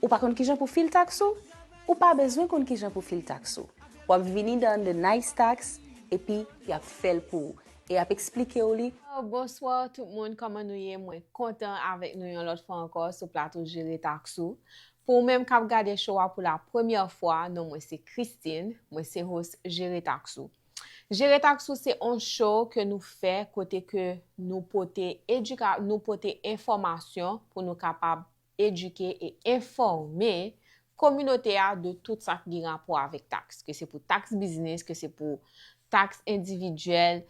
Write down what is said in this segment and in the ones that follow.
Ou pa konn kijan pou fil tax ou? Ou pa bezwen konn kijan pou fil tax ou. Wap vini dan The Nice Tax epi yap fèl pou ou e yap eksplike ou li. Bonsoir tout moun kòman nou ye mwen kontan avèk nou yon lòt fwa ankò sou plato jere tax ou pou ou menm kap gade show a pou la premyè fwa non mwen se Christine mwen se host jere tax ou jere tax ou se on show ke nou fè kote ke nou pote educa nou pote enfòmasyon pou nou kapab edike e enfòme kominote a de tout sa ki gen rapò avèk taks, ke se pou taks biznis, ke se pou taks endividyèl,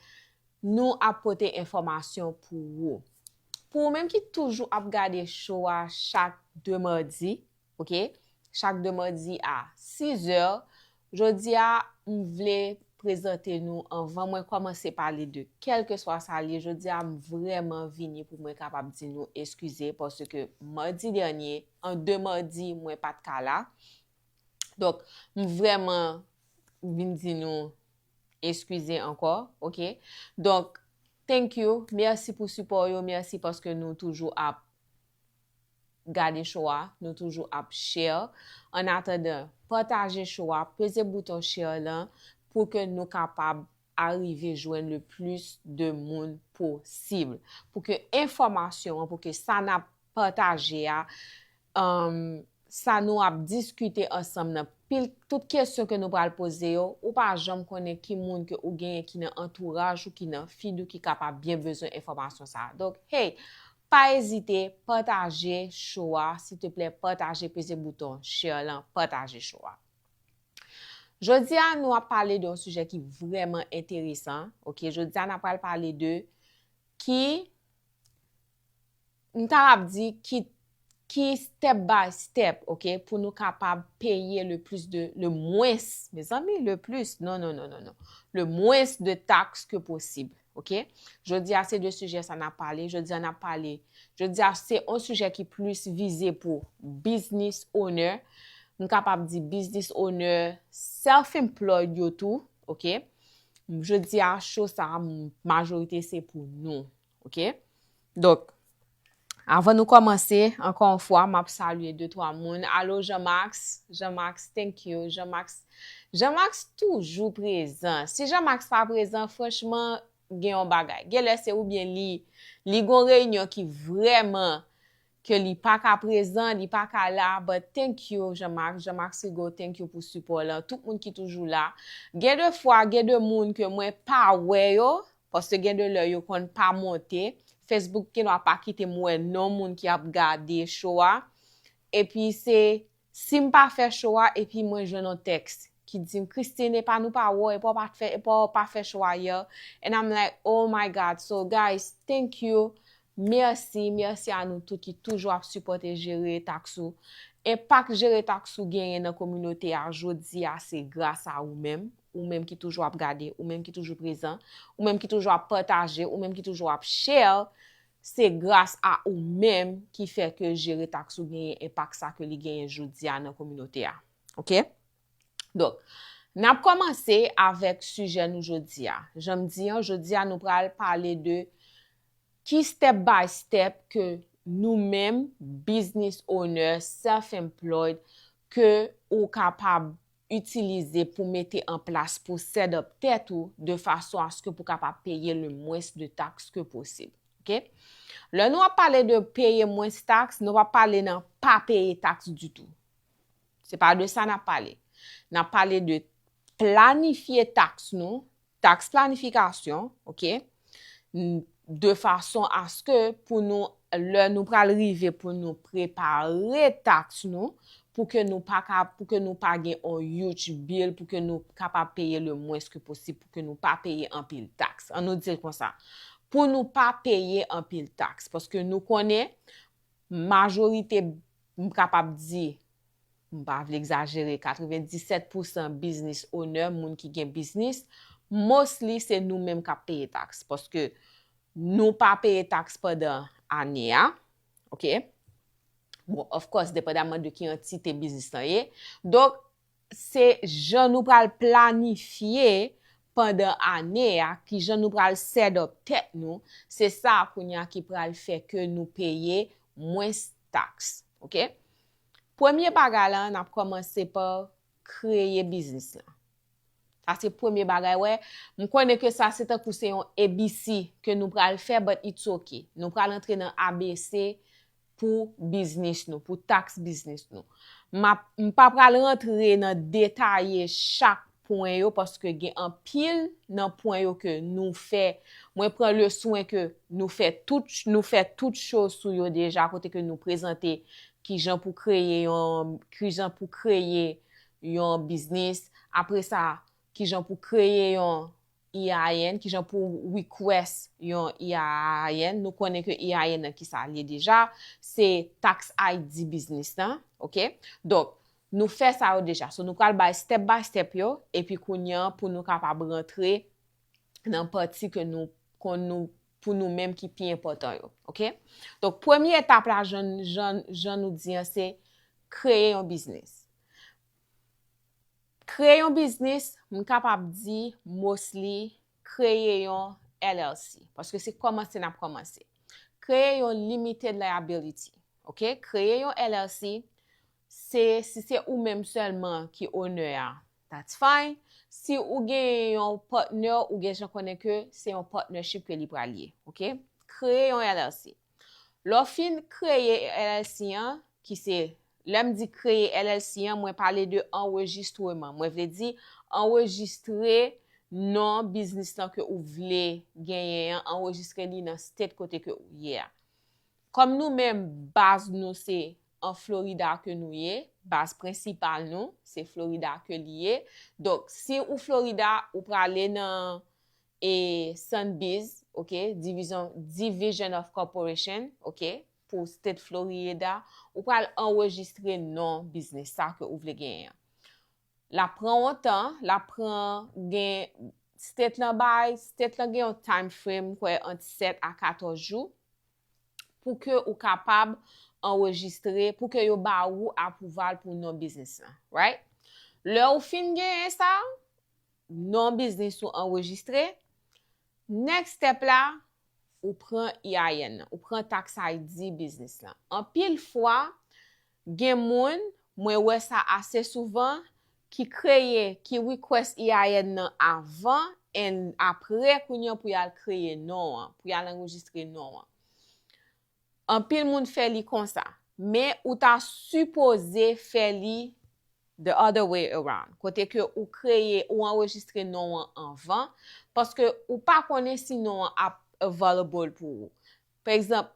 nou ap pote enfòmasyon pou ou. Pou ou menm ki toujou ap gade show a chak 2 madi, ok, chak 2 madi a 6 zè, Jodi a, m vle prezante nou anvan mwen kòmanse pale de kèlkeswa sa l ye jodi a m vrèman vini pou mwen kapab di nou eskize paske madi dènye an de madi mwen pa t ka la donk m vrèman vin di nou eskize ankò ok donk thank you mèsi pou sipò w yo mèsi paske nou toujou ap gade show a nou toujou ap share an atandan pataje show a peze bouton share lan pou ke nou kapab arive jwenn le plis de moun posib pou ke enfòmasyon an pou ke sa nap pataje a umm sa nou ap diskite ansanm nan pil tout kesyon ke nou pral poze yo ou pa janm konnen ki moun ke ou genyen ki nan antouraj ou ki nan fid ou ki kapab byen bezwen enfòmasyon sa donk hey Pa ezite pataje show a siteplè pataje peze bouton share lan pataje show a Jodi a nou ap pale de yon sijè ki vrèman enteresan ok jodi a na pral pale de ki m ta ap di ki ki step by step ok pou nou kapab peye le plis de le mwens mezanmi le plis non non non non non le mwens de taks ke posible. Ok Jodi a se de sijè sa nap pale Jodi a nap pale Jodi a se on sijè ki plis vize pou Business owner M kapab di business owner Self employed yo tou Ok Jodi a show sa majorite se pou nou Ok Donk Avan nou kòmanse, ankò yon fwa map salye de twa moun, alo Jean Max, Jean Max thank you, Jean Max, Jean Max toujou prezan, si Jean Max pa prezan franchman gen yon bagay, genlè se oubyen li li gon reyinyon ki vrèman ke li pa ka prezan, li pa ka la, but thank you Jean Max, Jean Max Rigaud thank you pou sipò lan, tout moun ki toujou la, gen de fwa gen de moun ke mwen pa wè yo, Paske gen de lè yo konn pa monte, Facebook gendwa pa kite m wè non moun ki ap gade show a, epi se si m pa fè show a epi mwen jwenn yon text ki di m Christine epa nou pa wè w epa w pat fè epa w pa fè show a hier and I'm like oh my God so guys thank you Mèsi, mèsi a nou tout ki toujou ap sipòte Jere Taks Ou. Enpak Jere Taks Ou genyen nan kominote a jodi a se gras a ou menm, ou menm ki toujou ap gade, ou menm ki toujou prezan, ou menm ki toujou ap pataje, ou menm ki toujou ap share, se gras a ou menm ki fè ke Jere Taks Ou genyen enpak sa ke li genyen jodi a nan kominote a. Ok. Donk, n ap kòmanse avèk sijè nou jodi a. Jan m di an, jodi a nou pral pale de ki step by step ke nou menm, business owner, self employed, ke ou kapab itilize pou mete an plas pou set up tèt ou de fason aske pou kapab peye le mwens de taks ke posib. Ok? Lè nou ap pale de peye mwens taks, nou pa pale nan pa peye taks ditou. Se pa de sa n ap pale. N ap pale de planifye taks nou, taks planifikasyon, ok, de fason aske pou nou, lè nou pral rive pou nou prepare taks nou, pou ke nou pa ka, pou ke nou pa gen yon huge bill, pou ke nou kapab peye le mwens ke posib, pou ke nou pa peye anpil taks. An nou di l konsa. Pou nou pa peye anpil taks. Paske nou konnen, majorite M kapab di, m pa vle egzajere, 97 pou san biznis onè, moun ki gen biznis, mostly se nou menm k ap peye taks. Paske nou pa peye taks pandan ane a. Ok. Bon, of course, depandamman de ki antite biznis lan ye. Donk, Se jan nou pral planifye pandan ane a, ki jan nou pral set up tèt nou, se sa a kounye a ki pral fè ke nou peye mwens taks. Ok. Premye bagay la, n ap kòmanse pa kreye biznis la. Sa se premye bagay wè. M konnen ke sa se tankou se yon ABC ke nou pral fè but it's ok. Nou pral antre nan ABC pou biznis nou, pou taks biznis nou. M pa pral rantre nan detaye chak pwen yo paske gen anpil nan pwen yo ke nou fè, mwen pran le swen ke nou fè tout, nou fè tout cho sou yo deja kote ke nou prezante ki jan pou kreye yon, ki jan pou kreye yon biznis, apre sa, ki jan pou kreye yon IAAN, kijan pou w request yon IAAN, nou konnen ke IAAN nan kisa l ye deja, se tax ID biznis lan, ok, donk nou fè sa yo deja, so nou pral bay step by step yo, epi kounya pou nou kapab rantre nan pati ke nou konn nou pou nou menm ki pi enpòtan yo, ok, donk premye etap la jan nou di an se kreye yon biznis. Kreye yon biznis, m kapab di mostly kreye yon LLC, paske se kòmanse n ap kòmanse. Kreye yon limited liability, ok, kreye yon LLC, se si se ou menm sèlman ki owner a, that's fine, si ou genyen yon partner ou gen jan konnen ke se yon partnership ke li pral ye, ok. Kreye yon LLC. Lè w fin kreye LLC an, ki se, lè m di kreye LLC an, mwen pale de anrejistreman. Mwen vle di, anrejistre non biznis lan ke ou vle genyen an, anrejistre li nan state kote ke ou ye a. Kòm nou menm baz nou se an Florida ke nou ye, baz prensipal nou, se Florida ke li ye, donk si ou Florida, ou prale nan e Sunbiz ok divizyon Division of Corporation ok pou State Florieda ou pral anrejistre non biznis sa ke ou vle genyen an lap pran on tan lap pran gen State lan bay State lan gen yon time frame m kwè ant 7 a 14 jou pou ke ou kapab anrejistre pou ke yo ba ou apwouval pou non biznis lan right lè ou fin genyen sa Non biznis ou anrejistre. Next step la, ou pran EIN nan. Ou pran tax ID biznis lan. Anpil fwa, gen moun, mwen wè sa ase souvan, ki kreye, ki request EIN nan avan and apre kounye an pou y al kreye non an, pou y al anrejistre non an. Anpil moun fè li konsa. Men ou ta sipoze fè li the other way around, kote ke ou kreye, ou anrejistre non an anvan, paske ou pa konnen si non an ap available pou ou. Pa egzanp,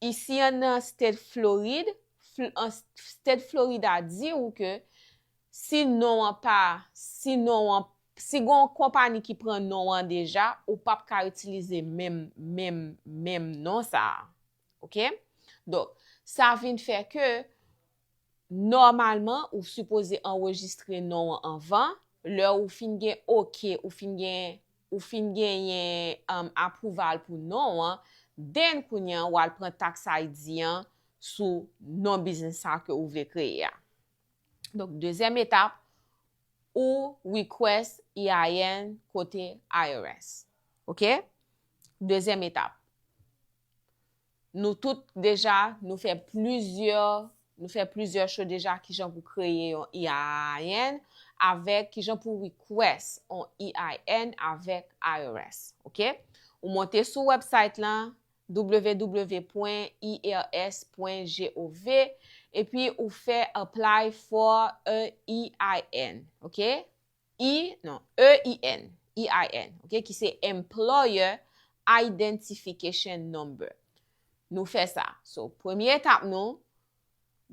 isi an nan state Florid, state Florida di ou ke si non an pa, si non an Si gen yon konpani ki pran non an deja, ou p ap ka itilize menm, menm, menm non sa a. Ok? Donk, sa vin fè ke, nòmalman, ou sipoze anrejistre non an anvan, lè ou fin gen ok, ou fin gen, ou fin genyen apwouval pou non an, then kounye an, ou al pran taks ID an sou non biznis sa a ke ou vle kreye a. Donk, dezyèm etap, ou request EIN kote IRS. Ok? Dezyèm etap. Nou tout deja, nou fè plizyè, nou fè plizyè show deja kijan pou kreye yon EIN avèk kijan pou request yon EIN avèk IRS. Ok? Ou monte sou website lan, www.irs.gov epi ou fè apply for a EIN ok i non EIN EIN ok ki se employer identification number nou fè sa so premye etap nou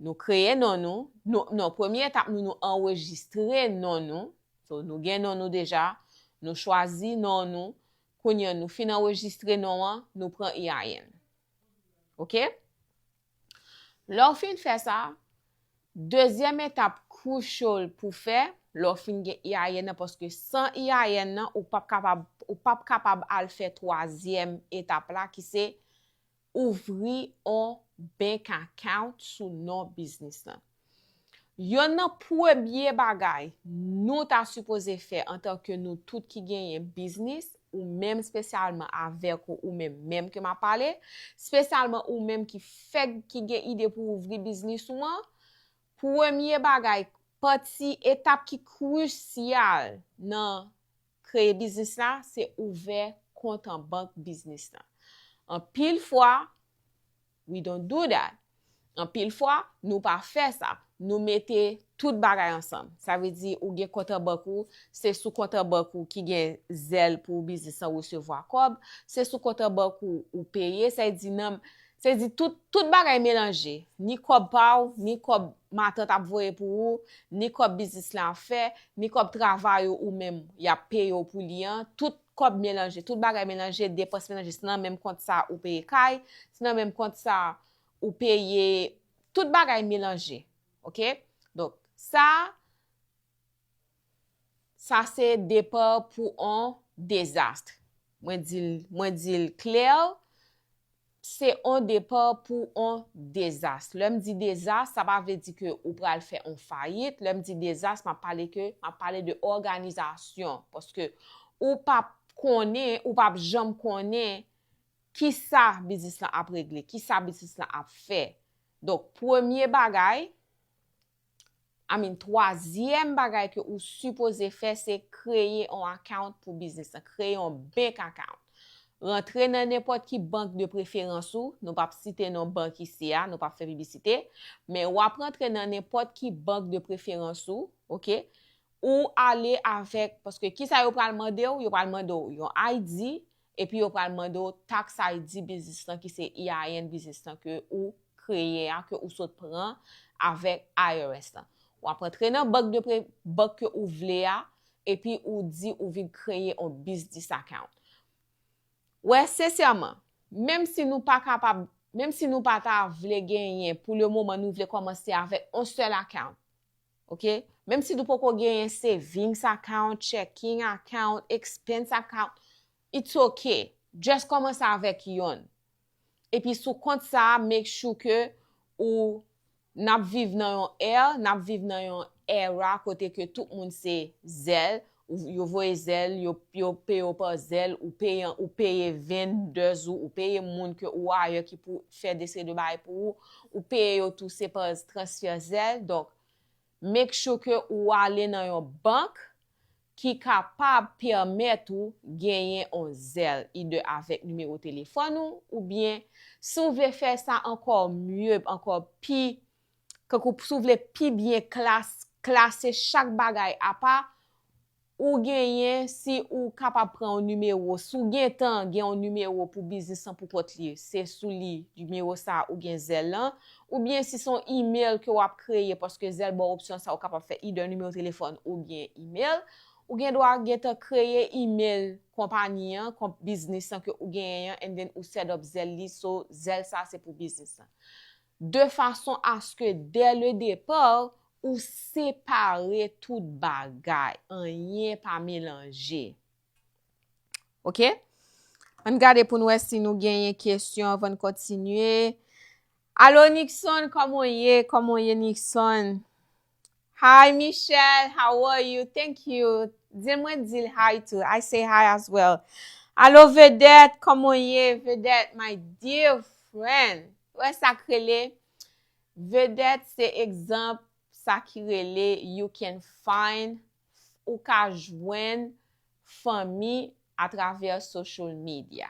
nou kreye non nou nou non premye etap nou nou anrejistre non nou so nou gen non nou deja nou chwazi non nou Kounya nou fin anrejistre non an, nou pran EIN. Ok? Lè w fin fè sa, dezyèm etap crucial pou w fè, lè w fin gen EIN nan, paske san EIN nan, ou p ap kapab, ou p ap kapab al fè twazyèm etap la ki se ouvri on bank account sou non biznis lan. Yonn nan premye bagay nou ta sipoze fè antanke nou tout ki genyen biznis, ou menm spesyalman avèk ou ou menm menm ke m ap pale, spesyalman ou menm ki fèk ki gen ide pou ouvri biznis ou an, premye bagay, pati, etap ki krisyal nan kreye biznis la se ouvè kont an bank biznis la. Anpil fwa, we don't do that. Anpil fwa, nou pa fè sa. Nou mete tout bagay ansanm. Sa vle di ou gen kont an bank ou, se sou kont an bank ou ki gen zèl pou biznis la resevwa kòb, se sou kont an bank ou ou peye, sa vle di nan Se di tout, tout bagay melanje. Ni kòb pa ou, ni kòb matant ap voye pou ou, ni kòb biznis lan ap fè, ni kòb travay ou ou menm y ap peye w pou li an, tout kòb melanje, tout bagay melanje, depans melanje. Se nan menm kont sa ou peye kay, se nan menm kont sa ou peye, tout bagay melanje. Ok? Donk, sa. Sa se depart pou on dezastre. Mwen dil, mwen dil clair, se on depart pou on dezastre. Lèm di dezastre, sa pa vle di ke ou pral fè on fayit. Lèm di dezastre, map pale ke, map pale de òganizasyon. Paske ou pap konnen, ou pap janm konnen ki sa biznis lan ap regle, ki sa biznis lan ap fè. Donk premye bagay, I mean twazyèm bagay ke ou sipoze fè se kreye on account pou biznis la, kreye on bank account. Rantre nan nenpòt ki bank de preferans ou, nou pap site non bank isi a, nou pap fè piblisite, men ou ap rantre nan nenpòt ki bank de preferans ou, ok, ou ale avèk, paske kisa yo pral mande ou, yo pral mande ou yon ID, Epi yo pral mande w tax ID biznis lan ki se EIN biznis lan ke ou kreye a, ke ou sot pran avèk IRS lan. W ap antre nan bank de pre, bank ke ou vle a, epi ou di ou vin kreye on biznis account. Wè, sensèman, menm si nou pa kapab, menm si nou pa ta vle genyen pou le moman nou vle kòmanse avèk on sèl account, Ok menm si nou poko genyen savings account checking account expense account it's ok just komanse avèk yonn epi sou kont sa make sure ke ou nap viv nan yon air nap viv nan yon era kote ke tout moun se zèl yo voye zèl yo yo peyew pa zèl ou peye ou peye vendeurs ou ou peye moun ke ou ayè ki pou fè deseri de bagay pou ou ou peye yo tou se pa transfè zèl donk make sure ke ou ale nan yon bank ki kapab pèmèt ou genyen on zèl either avèk nimewo telefòn ou oubyen si ou vle fè sa ankò mieux ankò pi Kankou si w vle pi byen klas, klase chak bagay apa, ou genyen si ou kapab pran yon nimewo, si w gen tan gen yon nimewo pou biznis lan pou kont li, se sou li nimewo sa ou gen zèl lan, oubyen si se yon email ke w ap kreye paske zèl ba w opsyon sa ou kapab fè either nimewo telefòn oubyen email, ou gen dwa gen tan kreye email konpani an, konp biznis lan ke ou genyen an and then ou set up zèl li so zèl sa se pou biznis lan. de fason aske dè le depà ou separe tout bagay, anyen pa melanje. Ok? Ann gade pou n wè si nou genyen kesyon avan n kontinye. Alo Nixon, kòman w ye? Kòman w ye Nixon? Hi Michelle how are you thank you dil mwen dil hi tou I say hi as well Alo Vedette koman w ye Vedette my dear friend ou wè sak rele Vedette se egzanp sa ki rele you can find ou ka jwenn fanmi a travè social media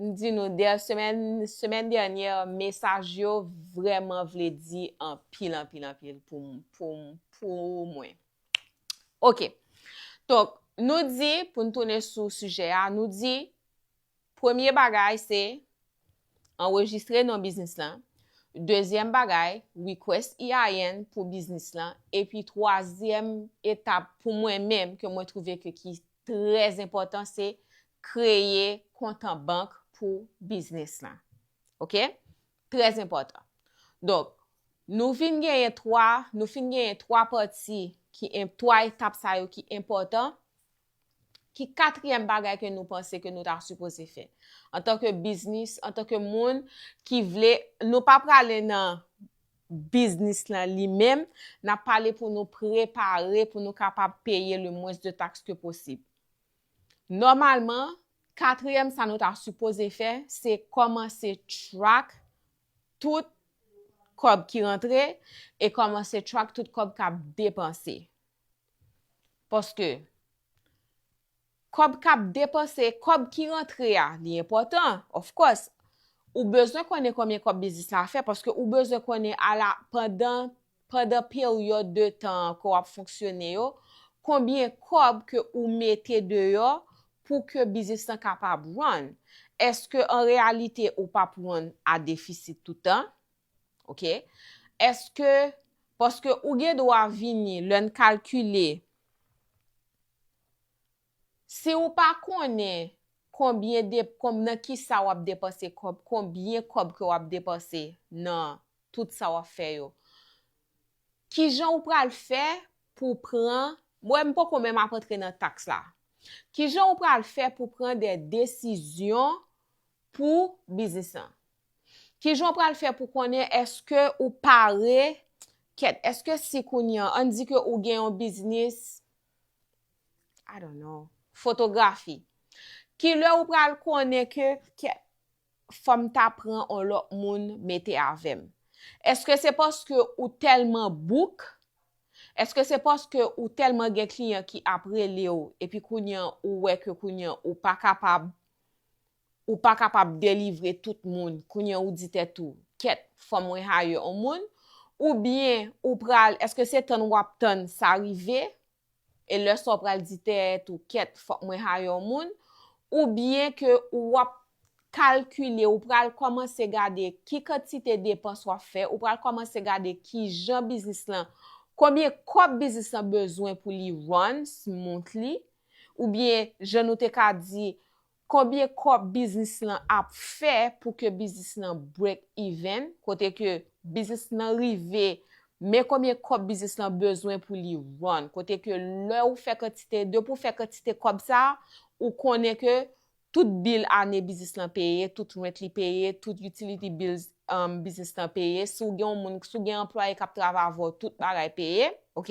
M di nou dè semèn semèn dènyè mesaj yo vrèman vle di anpil anpil anpil pou m pou m pou mwen ok donk nou di pou n tounen sou sijè a nou di premye bagay se anrejistre non biznis lan dezyèm bagay request EIN pou biznis lan epi twazyèm etap pou mwen menm ke mwen twouve ke ki trè enpòtan se kreye kont an bank pou biznis lan. Ok? Trè enpòtan. Donk, nou vin genyen 3, nou fin genyen 3 pati ki, 3 etap sa yo ki enpòtan. Ki katriyèm bagay ke nou panse ke nou ta sipoze fè? Antanke biznis, antanke moun ki vle, nou pa prale nan biznis lan li menm, n ap pale pou nou prepare pou nou kapab peye le mwens de taks ke posib. Nòmalman, katriyèm sa nou ta sipoze fè, se kòmanse track tout kòb ki rantre e kòmanse track tout kòb k ap depanse. Paske, Kòb kap depanse, kòb ki rantre a, li enpòtan, of course, ou bezwen konnen konbyen kòb biznis la fè paske ou bezwen konnen a la pandan pandan peryòd de tan an ke wap fonksyone yo, konbyen kòb ke ou mete deyò pou ke biznis lan kapab run. Eske an reyalite ou pap run a defisit toutan? Ok. Eske, paske ou gen dwa vini lèn kalkile Si ou pa konnen konbyen de konb nan ki sa wap depanse kob konbyen kob ke wap depanse nan tout sa wap fè yo ki jan ou pral fè pou pran mwen m poko menm ap antre nan taks la ki jan ou pral fè pou pran de desizyon pou biznis lan ki jan ou pral fè pou konnen eske ou pare kèt eske si kounye an an di ke ou gen yon biznis I don't know. Fotografi. Kilè ou pral konnen ke kè fòm ta pran on lòt moun mete avèm? Eske se paske ou tèlman bouk? Eske se paske ou tèlman gen kliyan ki ap relew epi kounye an ou wè ke kounye an ou pa kapab Ou pa kapab delivre tout moun, kounye ou di tèt ou, kèt, fò mwen hire on moun, ou byen ou pral, èske se tann wap tann sa rive, e lè sa ou pral di tèt ou, kèt, fòk mwen hire on moun, ou byen ke ou wap kalkile, ou pral kòmanse gade ki kantite depans wap fè, ou pral kòmanse gade ki jan biznis lan, konbyen kòb biznis lan bezwen pou li run, smoothly, ou byen jan nou te ka di, Konbyen kòb biznis lan ap fè pou ke biznis lan break even, kote ke biznis lan rive, men konbyen kòb biznis lan bezwen pou li run, kote ke lè ou fè kantite, depi ou fè kantite kòb sa, ou konnen ke tout bill ane biznis lan peye, tout rent li peye, tout utility bills biznis lan peye, si w gen yon moun, si w gen anplwaye kap travay avè w tout bagay peye, ok.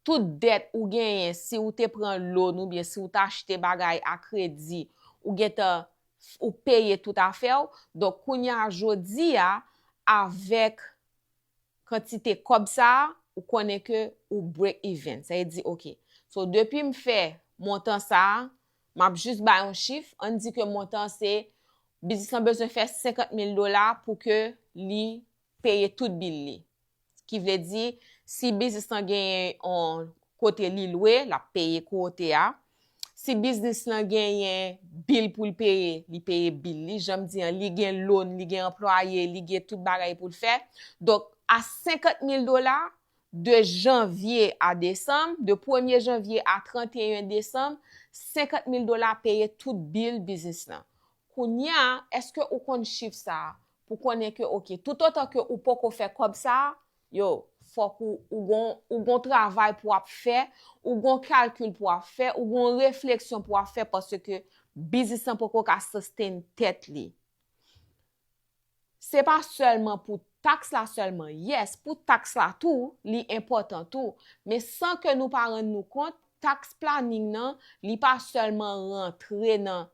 Tout dèt ou genyen si ou te pran loan ou byen si ou ta achte bagay a kredi ou gentan ou peye tout afè ou donk kounya jodi a avèk kantite kòb sa ou konnen ke ou break even sa vle di ok so depi m fè montan sa map jis bay yon chif ann di ke montan se biznis lan bezwen fè 50 mil dola pou ke li peye tout bill li Ki vle di, si biznis lan genyen yon kote li lwe, l ap peye kou ote a. Si biznis lan genyen bil pou l peye, li peye bil li. Jan m di an, li gen loan, li gen anplwaye, li gen tout bagay pou l fè. Donk, a 50 mil dola, de janvye a desanm, de premye janvye a 31 desanm, 50 mil dola peye tout bil biznis lan. Kounye a, èske ou konn chif sa a? pou konnen ke ok toutotan ke ou poko fè kòb sa a yo fòk ou ou gon ou gon travay pou wap fè ou gon kalkil pou wap fè ou gon refleksyon pou wap fè paske biznis lan poko ka sustain tèt li se pa sèlman pou taks la sèlman yes pou taks la tou li enpòtan tou men san ke nou pa rann nou kont taks planing nan li pa sèlman rantre nan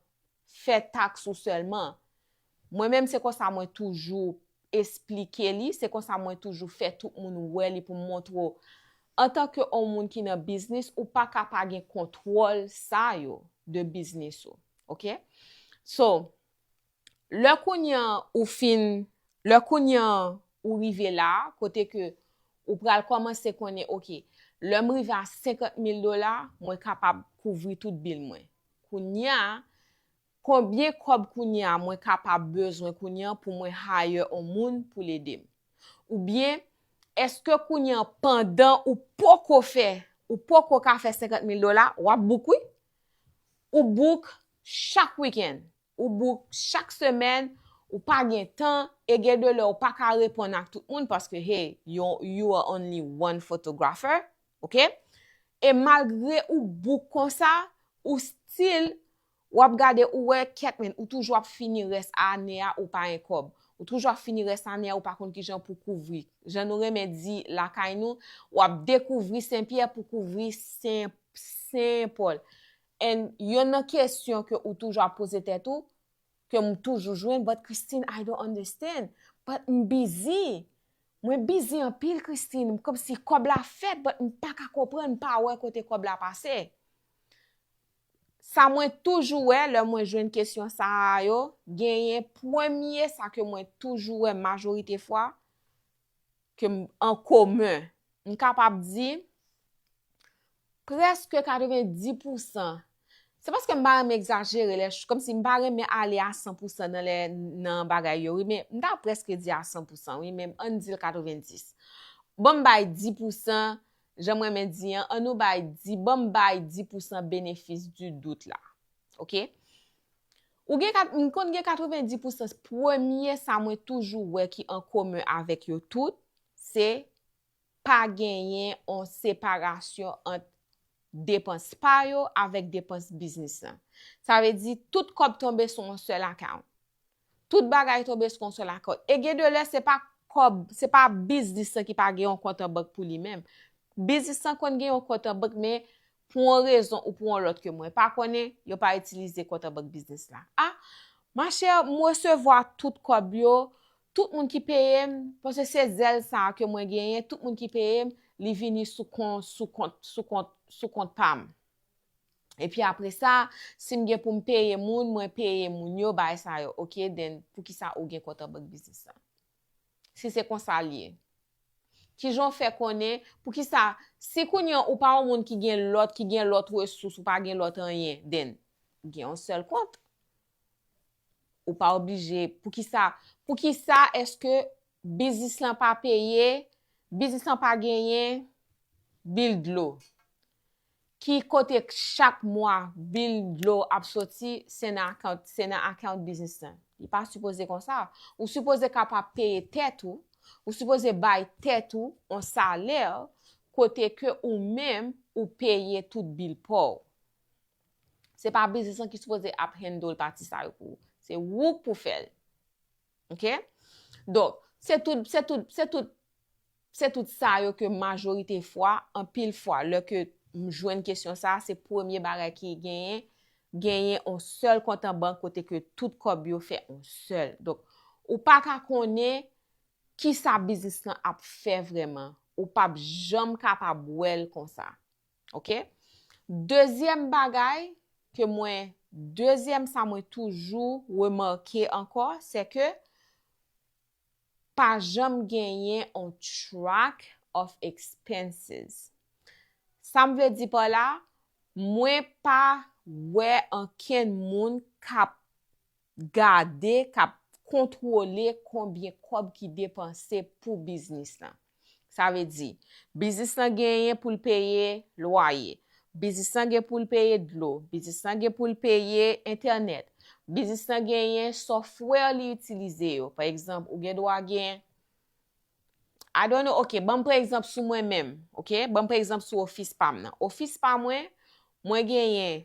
fè tax ou sèlman mwen menm se konsa mwen toujou esplike li se konsa mwen toujou fè tout moun wè li poum montre w antan ke on moun ki nan biznis ou paka pa gen kontwòl sa yo de biznis ou ok so lè kounye an ou fin lè kounye an ou rive la kote ke ou pral kòmanse konnen ok lèm rive a 50 mil dola mwen kapab kouvri tout bil mwen Kounya konbyen kòb kounya mwen kapab bezwen kounya pou mwen hire on moun poul edem? Ou byen eske kounya pandan ou poko fè ou poko ka fè 50 mil dola wap bouk wi ou bouk chak weekend Ou bouk chak semèn, ou pa gen tan, e gen de lè ou pa ka reponn ak tout moun paske hey, you are only one photographer, ok? E malgre ou bouk konsa, ou still, w ap gade ou wè kèk men, ou toujou ap fini rès ane a ou pa en kòb. Ou toujou ap fini rès ane a ou pa konn kijan pou kouvri. Jan nou renmen di lakay nou, w ap dekouvri Sen Pyè pou kouvri Sen Pòl. And yonn nan kesyon ke ou toujou ap poze tèt ou, ke m toujou jwenn, but Christine I don't understand, but m busy, mwen busy anpil Christine, m komsi kòb la fèt but m pa ka konprann, m pa wè kote kòb la pase. Sa mwen toujou wè lè mwen jwenn kesyon sa a yo, genyen premye sa ke mwen toujou wè majorite fwa, ke m an komen. M kapab di, preske 90 pousan, se paske m pa renmen egzajere lè, kòm si m pa renmen ale a 100 pousan nan lè, nan bagay yo wi, men m ta preske di a 100 pousan wi, men an n di l 90. Ban m bay 10 pousan, jan m renmen di an, an nou bay 10, ban m bay 10 pousan benefis di dout la. Ok? Ou gen kat, m konn gen 90 pousan, premye sa mwen toujou wè ki an komen avèk yo tout, se pa genyen on separasyon ant depans pa yo avèk depans biznis lan. Sa vle di, tout kòb tonbe sou on sèl akawnt. Tout bagay tonbe sou on sèl akawnt. E gen de lè se pa kòb, se pa biznis lan ki pa gen on kont an bank pou li menm. Biznis lan konn gen on kont an bank men, Pou yon rezon ou pou yon lòt ke mwen pa konnen, yo pa itilize kont an bank biznis la. A, ma chè, m resevwa tout kòb yo, tout moun ki peye m, paske se zèl sa a ke mwen genyen, tout moun ki peye m, li vini sou kon, sou kont, sou kont, sou kont pa m. Epi apre sa, si m gen pou m peye moun, mwen peye moun yo, bagay sa yo. Ok, then, poukisa ou gen kont an bank biznis la? Si se konsa l ye, kijan w fè konnen, poukisa, si kounye an ou pa yon moun ki gen lòt, ki gen lòt resous, ou pa gen lòt anyen, then, gen yon sèl kont. Ou pa oblije, poukisa, poukisa eske biznis lan pa peye, biznis lan pa genyen, bil dlo. Ki kote chak mwa bill dlo ap soti se nan account se nan account business lan. Li pa sipoze konsa. Ou sipoze kapab peye tèt ou, ou sipoze bay tèt ou on salaire kote ke ou menm ou peye tout bill paw. Se pa business lan ki sipoze ap handle pati sa yo pou ou. Se ou k pou fèl. Ok Donk se tout se tout se tout se tout sa yo ke majorite fwa anpil fwa lè ke m jwenn kesyon sa a se premye bagay ki genyen genyen on sèl kont an bank kote ke tout kòb yo fè on sèl donk ou pa ka konnen kisa biznis lan ap fè vrèman ou p ap janm kapab wè l konsa. Ok? Dezyèm bagay ke mwen, dezyèm sa mwen toujou remake ankò, se ke pa janm genyen on track of expenses. Sa m vle di pa la, mwen pa wè ankenn moun kap gade, kap kontwole konbyen kòb ki depanse pou biznis lan. Sa vle di, biznis lan genyen pou l peye lwaye, biznis lan gen pou l peye dlo, biznis lan gen pou l peye entènèt, biznis lan genyen sòfwè li itilize yo, pa egzanp ou gen dwa gen, I don't know, ok, ban m pran egzanp sou mwen menm, ok, ban m pran egzanp sou ofis pa m nan, ofis pa mwen, mwen genyen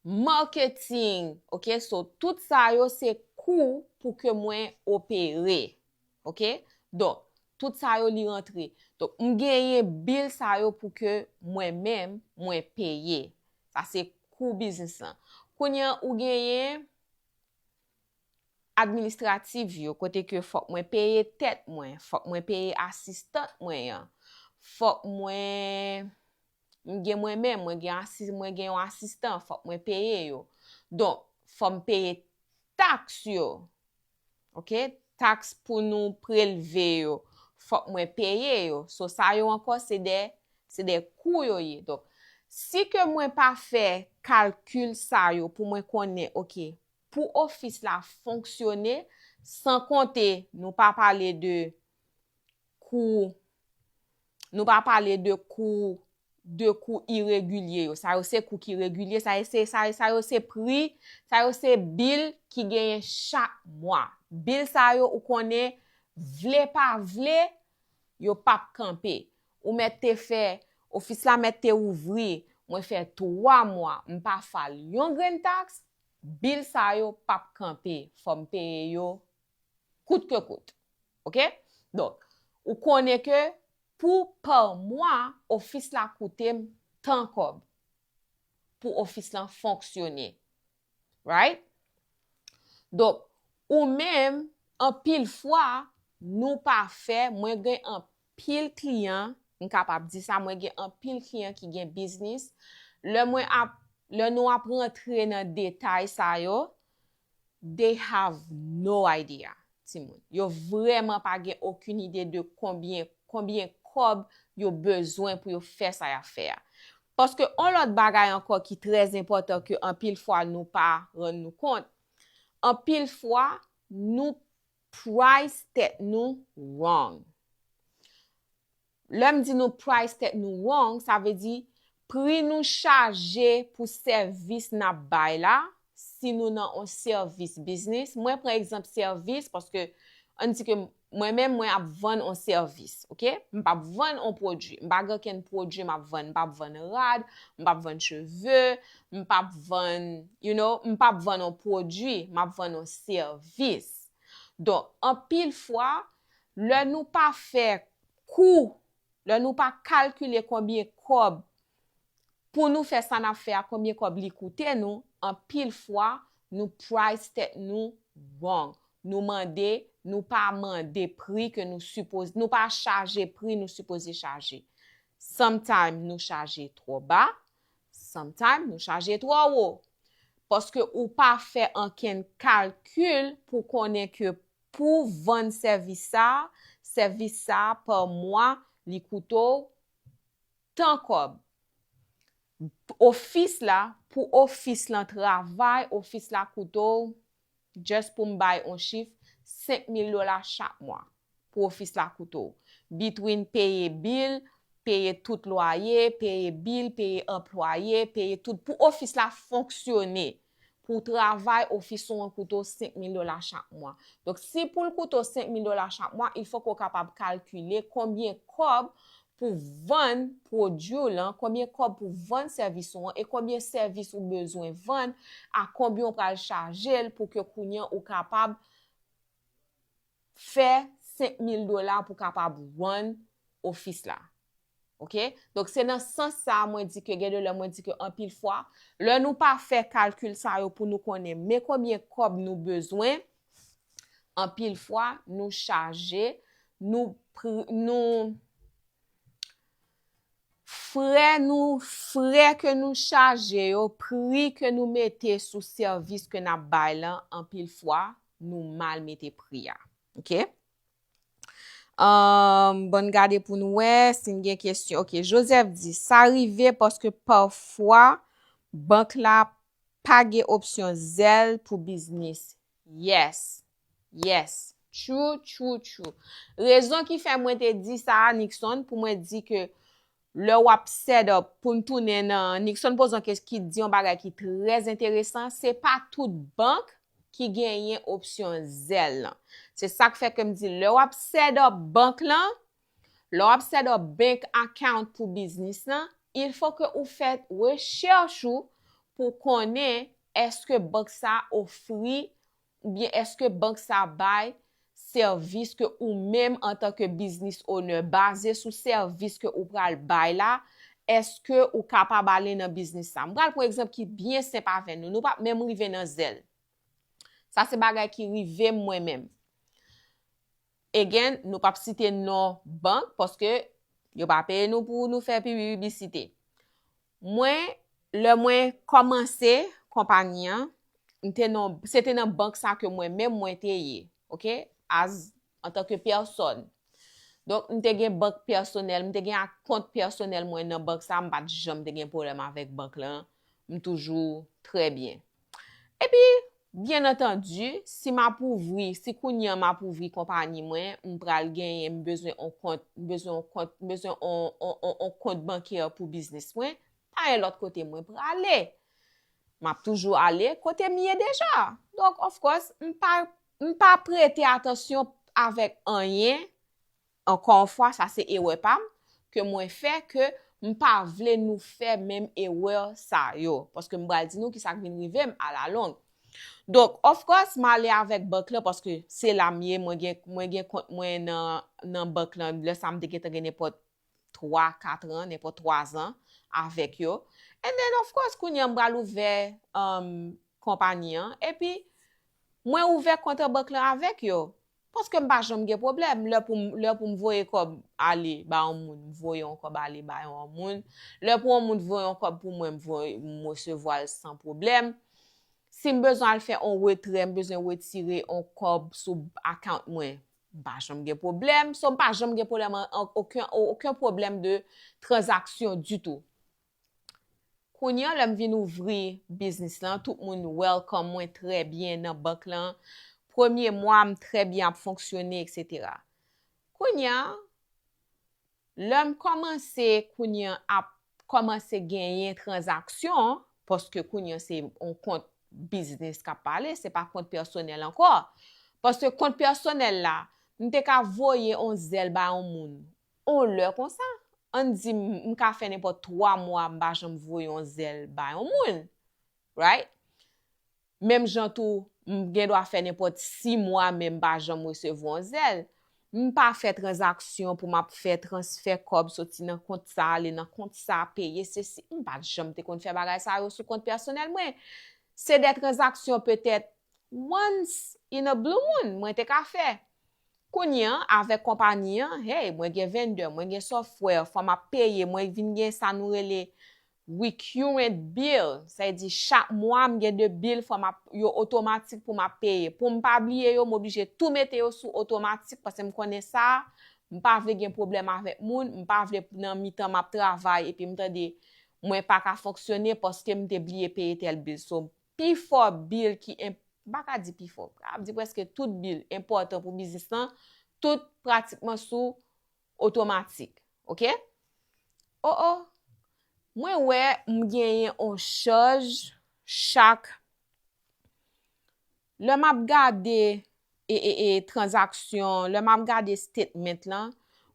Marketing, ok, so tout sa yo se kou pou ke mwen opere, ok, do, tout sa yo li rantre. Do, m genyen bil sa yo pou ke mwen menm mwen peye. Sa se kou biznis lan. Kounye an ou genyen administrativ yo, kote ke fok mwen peye tet mwen, fok mwen peye asistant mwen an, fok mwen M gen mwen menm, mwen gen asis, mwen gen yon asistan, fòk mwen peye yo. Donk, fò m peye taks yo. Ok, taks pou nou prelve yo, fòk mwen peye yo. So, sa yo ankò se de, se de kou yo ye. Donk, si ke mwen pa fè kalkil sa yo pou mwen konnen, ok, pou ofis la fonksyone, san konte, nou pa pale de, kou, nou pa pale de kou, de kou iregilye yo, sa yo se kou ki regilye, sa yo se, sa yo se pri, sa yo se bil ki genyen chak mwa. Bil sa yo ou konnen, vle pa vle, yo pap kanpe. Ou mèt te fè, ofis la mèt te ouvri, mwen fè 3 mwa, m pa file yon grenn taks, bil sa yo pap kanpe, fò m peye yo kout ke kout. Ok? Donk, ou konnen ke pou pa mwa, ofis la koute m tan kòb pou ofis lan fonksyone. Right? Donk, ou menm, anpil fwa, nou pa fè, mwen gen anpil kliyan, m kapab di sa, mwen gen anpil kliyan ki gen biznis, lè mwen ap, lè nou ap rantre nan detay sa yo, They have no idea timoun. Yo vrèman pa gen okin ide de konbyen konbyen kòb yo bezwen pou yo fè sa yap fè a. Paske on lòt bagay ankò ki trè enpòtan ke anpil fwa nou pa rann nou kont, anpil fwa nou price tèt nou wrong. Lè m di nou price tèt nou wrong sa vle di pri nou chaje pou sèvis n ap bay la si nou nan on sèvis biznis mwen pran egzanp sèvis paske an n di ke mwen menm mwen ap vann on sèvis ok m p ap vann on pwodui m pa gen okenn pwodui m ap vann m p ap vann rad m p ap vann cheve m p ap vann you know m p ap vann on pwodui m ap vann on sèvis donk anpil fwa lè nou pa fè kou lè nou pa kalkile konbyen kòb pou nou fè sa nap fè a konbyen kòb li koute nou anpil fwa nou price tèt nou wrong nou mande nou pa mande pri ke nou sipoze nou pa chaje pri nou sipoze chaje sometime nou chaje twò ba sometime nou chaje twò wo paske ou pa fè ankenn kalkil pou konnen ke Pou vann sèvis sa, sèvis sa pa mwa li koute w tan kòb. P ofis la pou ofis lan travay ofis la koute w just pou m bay on chif 5000 dola chak mwa pou ofis la koute w between peye bill peye tout lwaye peye bill peye anplwaye peye tout pou ofis la fonksyone pou w travay ofis ou an koute w 5 mil dola chak mwa. Donk si pou l koute w 5 mil dola chak mwa, il fòk ou kapab kalkile konbyen kòb pou vann pwodui w lan, konbyen kòb pou vann sèvis ou an e konbyen sèvis ou bezwen vann a konbyen ou pral chaje l pou ke kounye an ou kapab fè 5 mil dola pou kapab vann ofis la. Ok, donk se nan sans sa a mwen di ke gen de lè mwen di ke anpil fwa, lè nou pa fè kalkil sa yo pou nou konnen men konbyen kòb nou bezwen, anpil fwa nou chaje, nou frè nou, frè ke nou chaje yo, pri ke nou mete sou sèvis ke n ap bay lan, anpil fwa nou mal mete pri a. Ok. Um, bon n gade pou n wè si n gen kesyon. Ok, Joseph di, sa rive paske pafwa bank la pa gen opsyon zèl pou biznis. Yes, yes, true, true, true. Rezon ki fè mwen te di sa a, Nixon, pou mwen di ke Lè wap set up poun tounen nan Nixon poze yon kes ki di yon bagay ki trè enteresan se pa tout bank ki genyen opsyon Zelle lan se sak fè kem di lè wap set up bank lan lè wap set up bank account pou biznis lan il fo ke ou fè recherche ou pou konnen eske bank sa ofri oubyen èske bank sa bay sèvis ke ou menm antan ke business owner baze sou sèvis ke ou pral bay la èske ou kapab ale nan business sa m pral pran egzanp ki byen senp avè nou nou pap menm rive nan zèl sa se bagay ki rive m mwen menm. Again, nou pap site non bank paske yo pa peye nou pou nou fè pibibisite. Mwen, lè mwen kòmanse konpagni an, m te nan, se te nan bank sa ke mwen menm mwen te ye, ok, as, antanke pèsòn. Donk, m te gen bank pèsonèl, m te gen ak kont pèsonèl mwen nan bank sa, m pa t janm te gen pwoblèm avèk bank lan, m toujou trè byen. Epi, byen antandi, si m ap ouvri, si kounye an m ap ouvri konpani mwen, m pral genyen, m bezwen on kont, m bezwen on kont, m bezwen on, on, on, on kont bankè pou biznis mwen, pa gen lòt kote mwen prale. M ap toujou ale kote m ye deja. Donk, of course, m pa, m pa prete atansyon avèk anyen Ankò yon fwa sa se erè pam ke mwen fè ke m pa vle nou fè menm erè sa yo paske m pral di nou kisa k vin rive m alalong. Donk of course m ale avèk bank lan paske se la m ye mwen gen mwen gen kont mwen nan nan bank lan lè sa m te gentan gen nenpòt 3 katran nenpòt 3 zan avèk yo and then of course kounye a m pral ouvè umm konpani an epi mwen ouvè kont an bank lan avèk yo Paske m pa janm gen pwoblèm, lè pou m, lè pou m voye kòb ale ba yon moun, m voye yon kòb ale ba yon moun, lè pou yon moun t voye yon kòb pou mwen m voye, m resevwa l san pwoblèm. Si m bezwen al fè yon retrè, m bezwen retire yon kòb sou account mwen, m pa janm gen pwoblèm. So m pa janm gen pwoblèm an, oken, oken pwoblèm de tranzaksyon ditou. Kounye an lèm vin ouvri biznis lan tout moun welcome mwen trè byen nan bank lan premye mwa m trè byen ap fonksyone etc. Kounye an lèm kòmanse kounye an ap kòmanse genyen tranzaksyon paske kounye an se yon kont biznis kap pale se pa kont pèsonèl ankò paske kont pèsonèl la m te ka voye yon zèl bay yon moun On lè konsa, ann di m ka fè nenpòt twa mwa m pa janm voye on zèl ba yon moun. Right? Menm jan tou, m gen dwa fè nenpòt si mwa men m pa janm resevwa on zèl. M pa fè tranzaksyon pou m ap fè transfè kòb soti nan kont sa ale nan kont sa, peye sesi, m pa janm te konn fè bagay sa yo sou kont pèsonèl mwen. Se de tranzaksyon petèt once in a blue moon mwen te ka fè. Kounye an, avèk konpani an, hey, mwen gen vendè, mwen gen software, fò m ap peye, mwen vin gen sa nou rele recurrent bill, sa vle di chak mwa m gen 2 bill fò m ap, yo otomatik pou m ap peye. Pou m pa bliye yo, m oblije tou mete yo sou otomatik paske m konnen sa, m pa vle gen pwoblèm avèk moun, m pa vle nan mitan m ap travay epi m tande mwen pa ka fonksyone paske m te bliye peye tèl bill. So, Pi fò bil ki enp, m pa ka di pi fò, m ap di prèske tout bil enpòtan pou biznis lan, tout pratikman sou otomatik. Ok? O o! Mwen wè m genyen on chaj chak lè m ap gade transaksyon lè map gade statement lan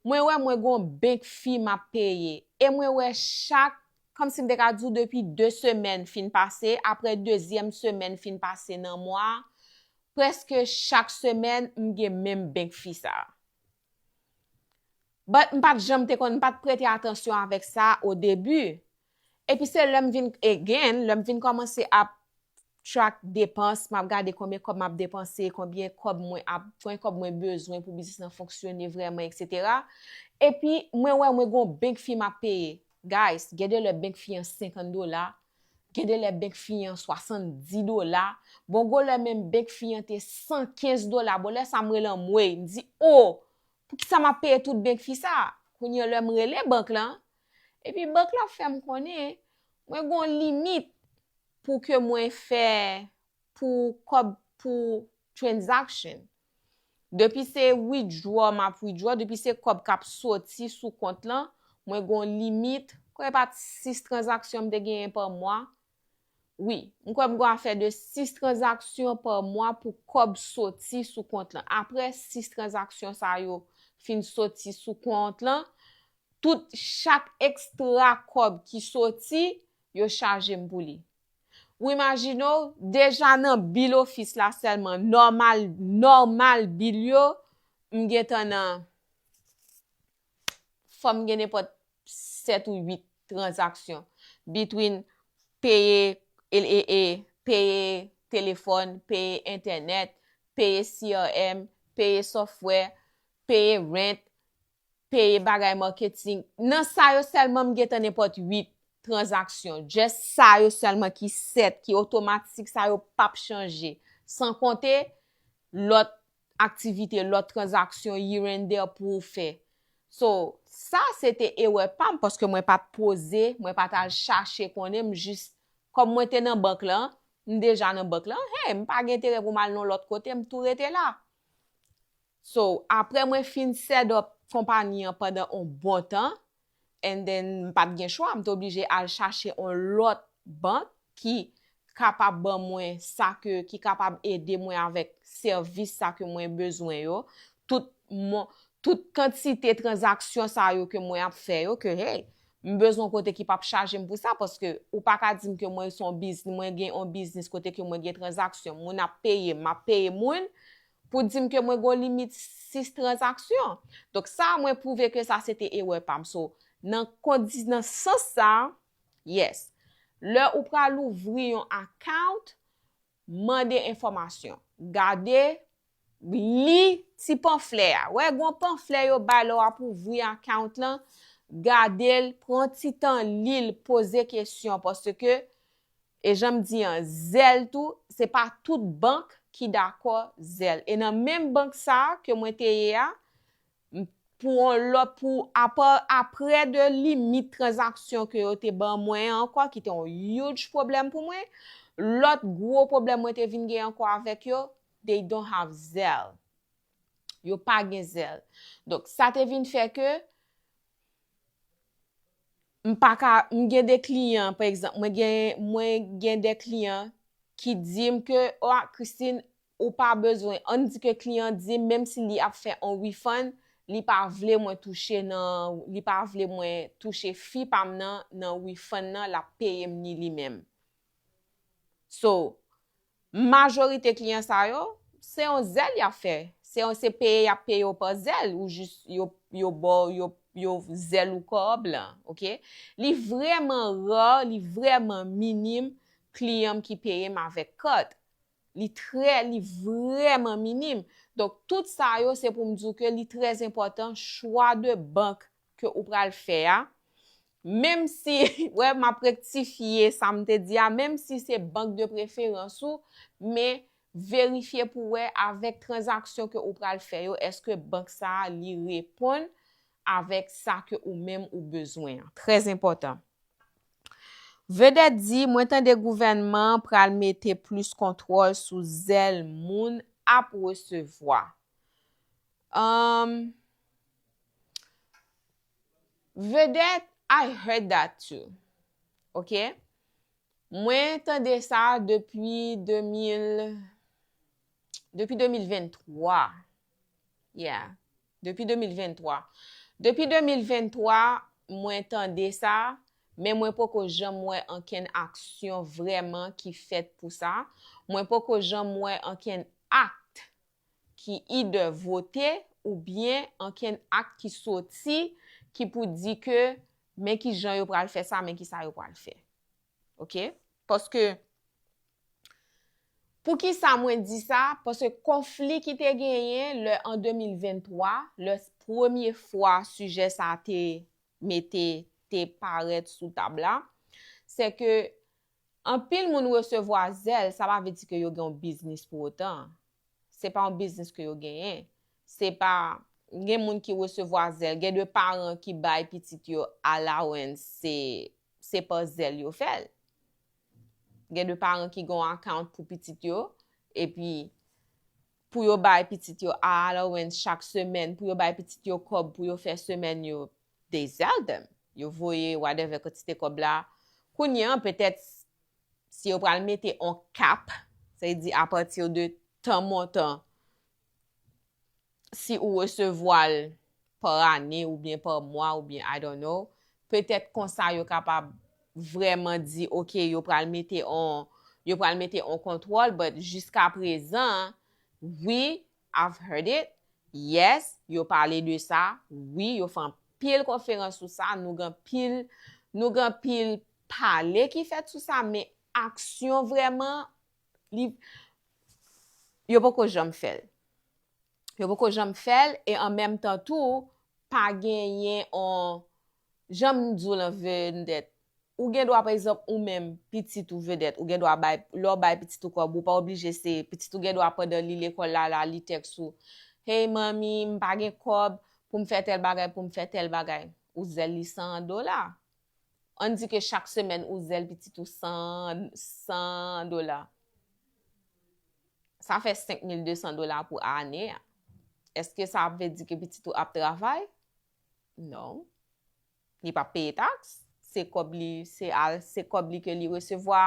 mwen wè mwen gon bank fi map peye e mwen wè chak kòmsi m te ka di w depi 2 semèn fin pase aprè dezyèm semèn fin pase nan mwa prèske chak semèn m gen menm bank fi sa. But m pat janm te konn, m pat prete atansyon avèk sa o debi. Epi se lè m vin, again, lè m vin kòmanse ap track depans, m ap gade konbyen kòb m ap depanse, konbyen kòb mwen ap, konbyen kòb mwen bezwen pou biznis lan fonksyone vrèman eksetera. Epi mwen wè mwen gon bank fi m ap peye. Guys, gen de lè bank fi an 50 dola, Gen de lè benk fi an 70 dola, bon gwo lè menm benk fi an te 115 dola, bon lè sa m rele anmweyy, m di oo, poukisa m ap peye tout benk fi sa, kounye lè m rele bank lan, epi bank lan fè m konnen, mwen gen yon limit pou ke mwen fè pou kòb pou transaction. Depi se withdraw map withdraw, depi se kòb kap soti sou kont lan, mwen gon limit, kwè pa t 6 transaksyon m te genyen pa mwa, wi, m kwè m gon afè de 6 transaksyon pa mwa pou kòb soti sou kont lan. Aprè 6 transaksyon sa yo fin soti sou kont lan, tout chak extra kòb ki soti, yo chaje m pou li. Ou imajine w, deja nan bil ofis la sèlman, nòmal, nòmal bil yo, m gen tan nan, fò m gen nenpòt 7 ou 8 tranzaksyon, between peye, ee, peye telefòn, peye entènèt, peye CRM, peye software, peye rent, peye bagay marketing nan sa yo selman m gentan nenpot 8 transaksyon just sa yo selman ki set ki otomatik sa yo pap chanje san konte lot aktivite lot transaksyon here and there pou ou fè so sa se te erè pam paske mwen pat poze mwen pat al chache konnen m jis kom mwen te nan bank lan m deja nan bank lan hey m pa gen enterè pou m al nan lot kote m tou rete la. So, aprè mwen fin set up konpani an pandan on bon tan, and then m pat gen chwa, m t oblije al chache on lòt bank ki kapab ban mwen sa ke, ki kapab ede mwen avèk sèvis sa ke mwen bezwen yo, tout mon, tout kantite tranzaksyon sa yo ke mwen ap fè yo, ke hey, m bezwen on kote ki pap chaje m pou sa, paske ou pa ka di m ke mwen son bizn, mwen gen on biznis kote ke mwen gen tranzaksyon, moun ap peye m, m ap peye moun, Pou dim ke mwen gon limit 6 transaksyon. Donk sa mwen pwouve ke sa se te erè pam. So nan kondi nan sans sa, yes. Lè ou pral ouvri yon account, mande enfòmasyon. Gade, li ti panflè a. Wè gon panflè yo bay lè wap ouvri account lan, gadel, pran ti tan lil, poze kesyon paske E jan m di an, zèl tou, se pa tout bank ki dakò zèl. E nan menm bank sa a ke mwen te ye a, m, pou on lòt, pou, apa, apre de limit tranzaksyon ke yo te ban mwen an ankò, ki te on huge pwoblèm pou mwen, lòt gwo pwoblèm mwen te vin gen ankò avèk yo, they don't have zelle. Yo pa gen zèl. Donk, sa te vin fè ke. M pa ka, m gen de kliyan, pa egzanp, mwen gen, mwen gen de kliyan ki di m ke, o a Christine, ou pa bezwen, ann di ke kliyan an di m menm si li ap fè on refund, li pa vle mwen touche nan, li pa vle mwen touche fi pa m nan nan refund nan l ap peye m ni li menm. So. Majorite kliyan sa yo, se yon zèl yap fè, se yon se peye yap peye w pa zèl ou jis yo yo ba w yo yo zèl ou kò an blan ok. Li vrèman rare, li vrèman minim kliyan m ki peye m avèk kat. Li trè li vrèman minim. Donk tout sa yo se pou m di w ke li trèzenpòtan chwa de bank ke ou pral fè a, menm si, wè m ap rektifye sa m te di a, menm si se bank de preferans ou, men verifye pou wè avèk tranzaksyon ke ou pral fè yo, eske bank sa a li reponn avèk sa ke ou menm ou bezwen an. Trè zenpòtan. Vedette di, mwen tande gouvènman an pral mete plis kontwòl sou zèl moun ap resevwa. Um Vedette I heard that too ok mwen tande sa depi 2000 depi 2023 yeah depi 2023 depi 2023 mwen tande sa men mwen poko janm wè ankenn aksyon vrèman ki fèt pou sa mwen poko janm wè ankenn act ki either vote ou byen ankenn akt ki soti ki pou di ke men ki jan yo pral fè sa, men ki sa yo pral fè. Ok? Paske, pou ki sa mwen di sa, paske konfli ki te genyen lè an 2023, lè premye fwa sijè sa te mete, te parèt sou tab la, se ke, Anpil moun resevwa zèl, sa pa vle di ke yo gen yon biznis pou otan. Se pa yon biznis ke yo genyen. Se pa, gen moun ki resevwa zèl, gen de paran ki bay pitit yo allowance, se, se pa zèl yo fè'l. Gen de paran ki gen yon account pou pitit yo, epi, pou yo bay pitit yo a allowance chak semèn, pou yo bay pitit yo kòb pou yo fè semèn yo, They sell them. Yo voye whatever kantite kòb la. Kounye an, petèt, si yo pral mete on cap, sa vle di a partir de tan montan, si ou resevwa l par ane oubyen par mwa oubyen I don't know, petèt konsa yo kapab vrèman di ok yo pral mete on, yo pral mete on kontwòl but jiskaprezan, wi, I've heard it, yes, yo pale de sa, wi, yo fè anpil konferans sou sa, nou gen anpil, nou gen anpil pale ki fèt sou sa, men aksyon vrèman, li, yo poko janm fè l. Yo poko janm fè l, e an menm tan tou, pa genyen on, Jan m di w lan vendèt, ou gen dwa pa egzanp ou menm pitit ou vedèt ou gen dwa bay lè w bay pitit ou kòb ou pa oblije se pitit ou gen dwa pandan li lekòl la la li tèks ou hey manmi m pa gen kòb pou m fè tèl bagay pou m fè tèl bagay ou zèl li 100 dola ann di ke chak semèn ou zèl pitit ou 100 100 dola sa fè 5200 dola pou ane a èske sa ap vle di ke pitit ou ap travay Non. Li pa peye taks. Se kòb li, se al, se kòb li ke li resevwa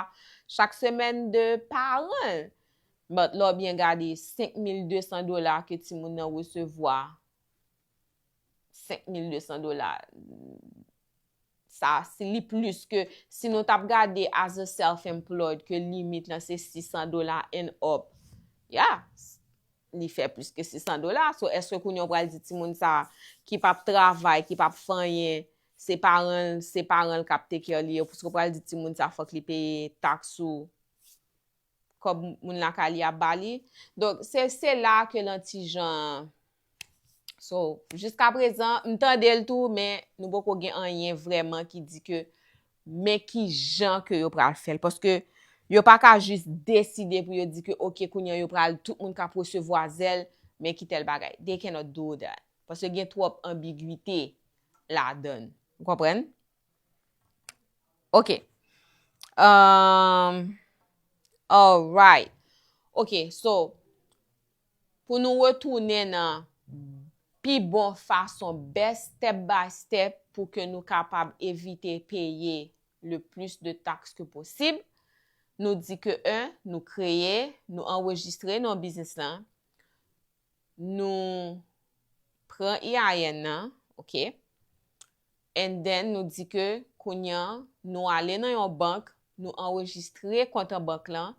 chak semèn de paran l. But lè w byen gade 5200 dola ke timoun nan resevwa, 5200 dola. sa si li plis ke si nou tap gade as a self employed ke limit lan se 600 dola and up ya li fè plis ke 600 dola so eske kounye ou pral di timoun sa ki pap travay ki pap fè anyen se paranl se paranl kap take care li eske ou pral di timoun sa fòk li peye tax sou kòb moun lakay li ap bali donk se se la ke lan ti jan So, jiska prezan, m tande l tou, men nou poko gen anyen vrèman ki di ke men ki jan ke yo pral fè l. Paske yo pa ka jis deside pou yo di ke ok kounye an yo pral tout moun ka presevwa zèl, men ki tèl bagay. They cannot do that. Paske gen twòp anbigwite ladan. Ou konprann? Ok. Ehm... Alright. Ok, so... Pou nou retounen nan Pi bon fason best step by step pou ke nou kapab evite peye le plis de tax ke posib, nou di ke 1 nou kreye, nou anrejistre non biznis lan, nou pran EIN nan, ok, and then nou di ke kounye an nou ale nan yon bank, nou anrejistre kont an bank lan,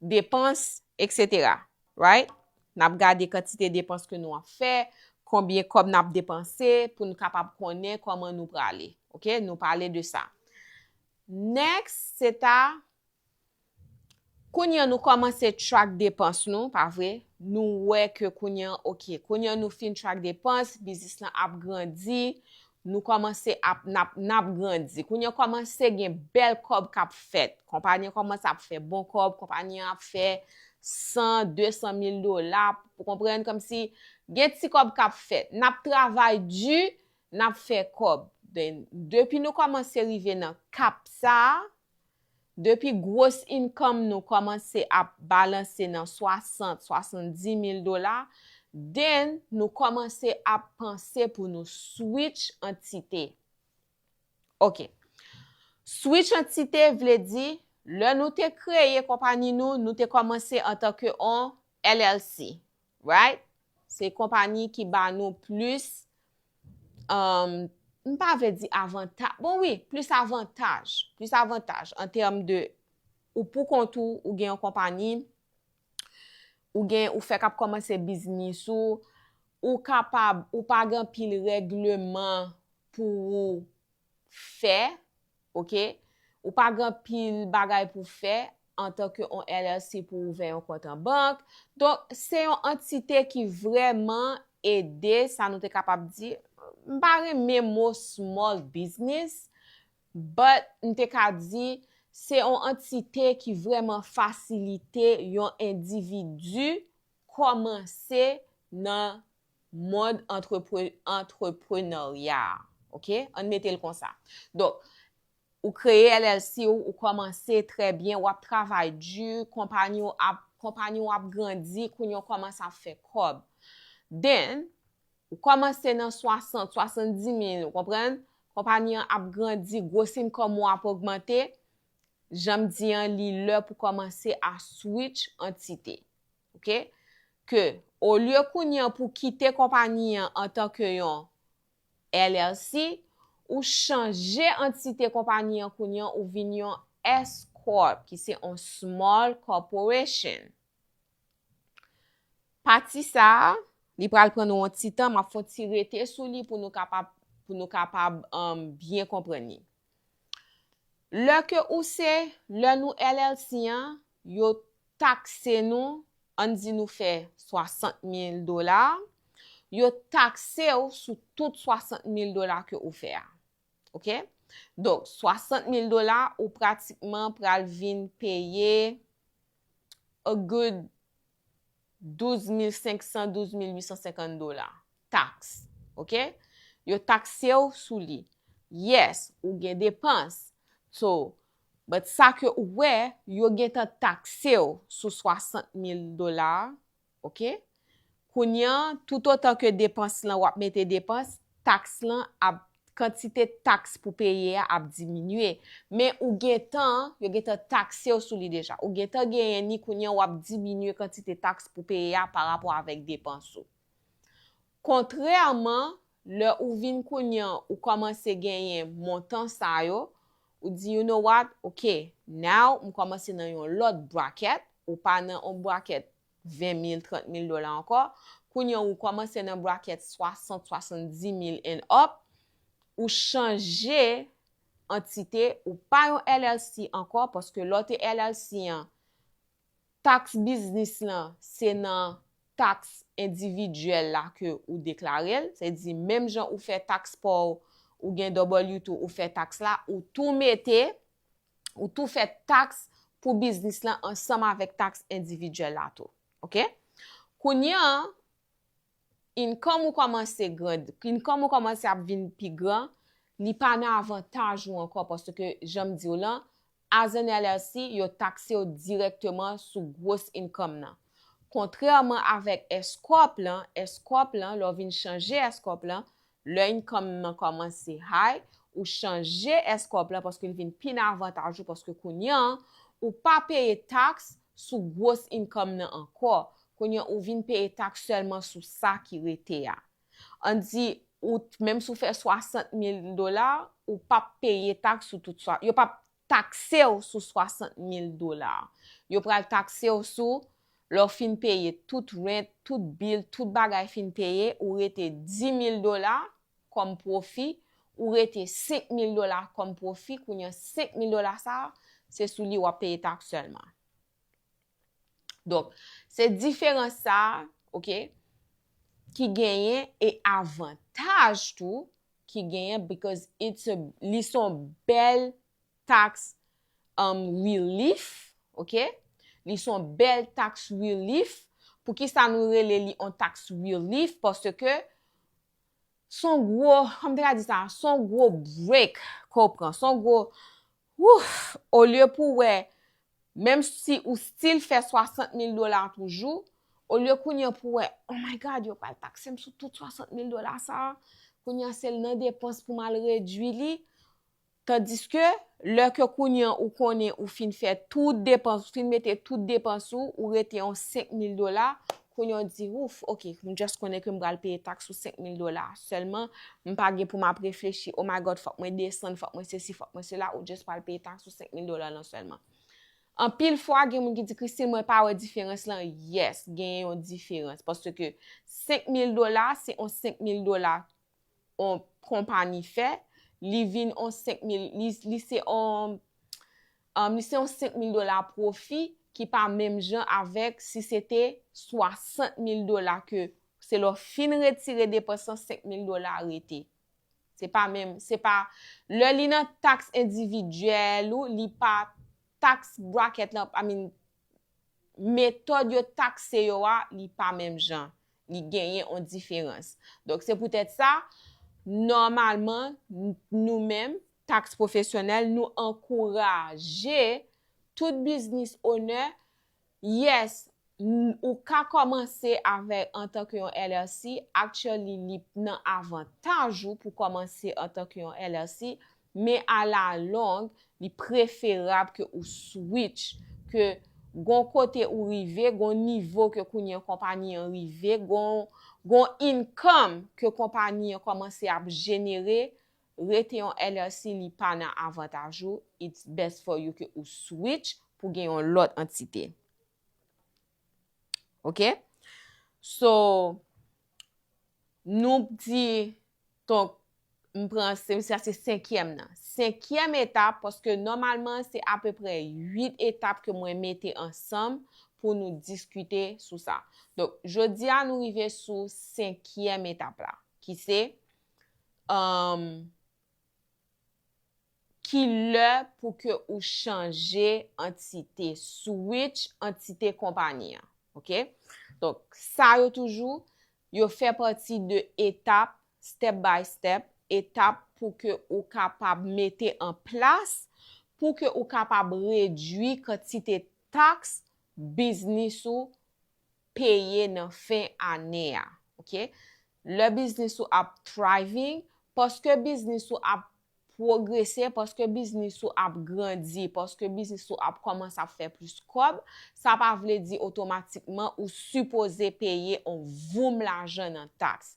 depans etc right nap gade kantite depans ke nou ap fè konbyen kòb nap depanse pou nou kapab konnen kòman nou prale ok nou pale de sa next se ta kounye an nou kòmanse track depans nou pa vre nou wè ke kounye an ok kounye an nou fin track depans biznis lan ap grandi Nou kòmanse ap, n ap, n ap grandi. Kounye an kòmanse gen bèl kòb k ap fèt. Konpani an kòmanse ap fè bon kòb, konpani an ap fè san, desan mil dola, ou konprann, kòmsi gen ti kòb k ap fèt. N ap travay di, n ap fè kòb. Depi nou kòmanse rive nan kap sa a, Depi gwos income nou kòmanse ap balanse nan 60, 70 mil dola, then nou kòmanse ap panse pou nou switch antite. Ok. Switch antite vle di, lè nou te kreye konpani nou, nou te kòmanse antanke on LLC. Right? Se konpani ki ba nou plis, um, m pa vle di avanta, bon wi, plis avantaj, plis avantaj an tèm de ou pou kont ou, ou gen yon konpani, ou gen, ou fèk ap kòmanse biznis ou, ou kapab, ou pa gen anpil règleman pou ou fè, ok, ou pa gen anpil bagay pou fè antan ke yon LLC pou w ouvè yon kont an bank. Donk, se yon antite ki vrèman ede sa nou te kapab di, m pa renmen mo small business, but m te ka di se yon antite ki vrèman fasilite yon endividi kòmanse nan mond antreprenarya a. Ok, ann mete l konsa. Donk, ou kreye LLC ou, ou kòmanse trè byen, w ap travay di, konpanyi w ap, konpanyi w ap grandi, kounye w kòmanse ap fè kòb. Then, ou kòmanse nan 60, 70 mil, ou konprann? Konpanyi an ap grandi, gwos income ou ap ogmante, jan m di an, li lè pou kòmanse a switch antite. Ok ke olye kounye an pou kite konpani an antan ke yon LLC ou chanje antite konpani an kounye an ou vin yon S corp ki se yon small corporation. Pati sa a li pral pran nou yon ti tan map fon ti rete sou li pou nou kapab pou nou kapab byen konprann li. Lè ke ou se, lè nou LLC an, yo takse nou, ann di nou fè 60 mil dola, yo takse ou sou tout 60 mil dola ke ou fè a. Ok? Donk, 60 mil dola, ou pratikman pral vin peye a good 12500, 12850 dola. Taks. Ok? Yo takse w sou li. Yes, ou gen depans. So, but sa ke ou wè, yo gen tan takse w sou 60000 dola a. Ok? Kounye an, toutotan ke depans lan, wap mete depans, taks lan ap kantite taks pou peye a ap diminye, men ou gentan, yo gentan takse w sou li deja. Ou gentan genyen ni kounye w ap diminye kantite taks pou peye a parapò avèk depans ou. Kontrèman, lè ou vin kounye an ou kòmanse genyen montan sa yo, ou di you know what, ok, now m kòmanse nan yon lòt bracket, ou pa nan yon bracket 20 mil, 30 mil dola ankò, kounye ou kòmanse nan bracket 60, 70 mil and up, ou chanje antite, ou pa yon LLC ankò, paske lè w te LLC an, tax biznis lan, se nan tax endividyèl la ke ou deklare l, se di menm jan ou fè tax pa w, ou gen W-2 ou fè tax la, ou tou mete, ou tou fè taks pou biznis lan ansanm avèk taks endividyèl la tou. Ok? Kounye an, income ou kòmanse grand, income ou kòmanse ap vin pi gran, li pa nan avantaj ou ankò paske jan m di w lan, as an LLC, yo takse w dirèkteman sou gwos income nan. Kontrèman avèk S-corp lan, S-corp lan, lè w vin chanje S-corp lan, Lè income m nan kòmanse high, ou chanje escop la paske li vin pi nan avantaj ou paske kounye an, ou pa peye tax sou gwos income nan ankò, kounye an ou vin peye tax sèlman sou sa ki rete a. An di ou menm si w fè 60 mil dola, ou pap peye tax sou tout, yo pap takse w sou 60 mil dola. Yo pral takse w sou lè w fin peye tout rent, tout bil, tout bagay fin peye, ou rete 10 mil dola kòm pwofi, ou rete 5 mil dola kòm pwofi, kounye an 5 mil dola sa a, se sou li w ap peye taks sèlman. Donk, se diferans sa, ok, ki genyen e avantaj tou ki genyen because it's a, li son bèl tax um, relief, ok, li son bèl tax relief, pou ki sa nou rele li an tax relief, parce ke son gwo, kòm te ka di sa, son gwo break ke w pran, son gwo, Wouff! Olye pou w wè, menm si ou still fè 60 mil dola toujou, olye kounye an pou w wè, oh my God, yo pral takse m sou tout 60 mil dola sa a, kounye an se l nan depans pou m al redui li, tandiske, lè ke kounye an ou konnen ou fin fè tout depans, ou fin mete tout depans ou, ou rete yon 5 mil dola, Kounye w di, Ouf, ok, m just konnen ke m pral peye taks sou 5 mil dola. Sèlman, m pa gen pou m ap reflechi, Oh my God, fòk mwen desann, fòk mwen sesi, fòk mwen sela, ou just pral peye taks sou 5 mil dola lan sèlman. Anpil fwa, gen moun ki di, Christine, mwen pa wè diferans lan. Yes, genyen yon diferans. Paske 5 mil dola, se yon 5 mil dola on konpani fè, li vin on 5 mil, li se on, li se on 5 mil dola pwofi ki pa menm jan avèk si se te 60 mil dola ke se lè w fin retire depans lan 5 mil dola a rete. Se pa menm, se pa, lè li nan taks endividyèl ou, li pa taks brakèt lan, I mean, metòd yo takse yo a, li pa menm jan. li genyen on diferans. Donk se poutèt sa, nòmalman, nou menm, taks pwofesyonèl, nou ankouraje tout biznis onè, yes, ou ka kòmanse avè antanke yon LLC, actually li nan avantaj ou pou kòmanse antanke yon LLC, Men a la long, li preferab ke ou switch, ke gon kote ou rive, gon nivo ke kounye konpani an rive, gon income ke konpani an komanse ap jenere, rete yon LLC li pa nan avantaj ou, it's best for you ke ou switch pou gen yon lot antite. Ok? So, nou p di, ton, m pran, se m sa se senkyèm nan. Senkyèm etap, paske nòmalman se apeprè 8 etap ke mwen mete ansanm pou nou diskite sou sa. Donk, jodi a nou rive sou senkyèm etap la, ki se, emm, Ki lè pou ke ou chanje antite, switch antite konpani an. Ok. Donk, sa yo toujou, yo fè pati de etap, step by step, etap pou ke ou kapab mete an plas, pou ke ou kapab redwi kantite taks biznis ou peye nan fen ane a. Ok. Lè biznis ou ap thriving, paske biznis ou ap pwogrese, paske biznis ou ap grandi, paske biznis ou ap kòmanse ap fè plis kòb, sa pa vle di otomatikman ou sipoze peye on voum lajan nan taks.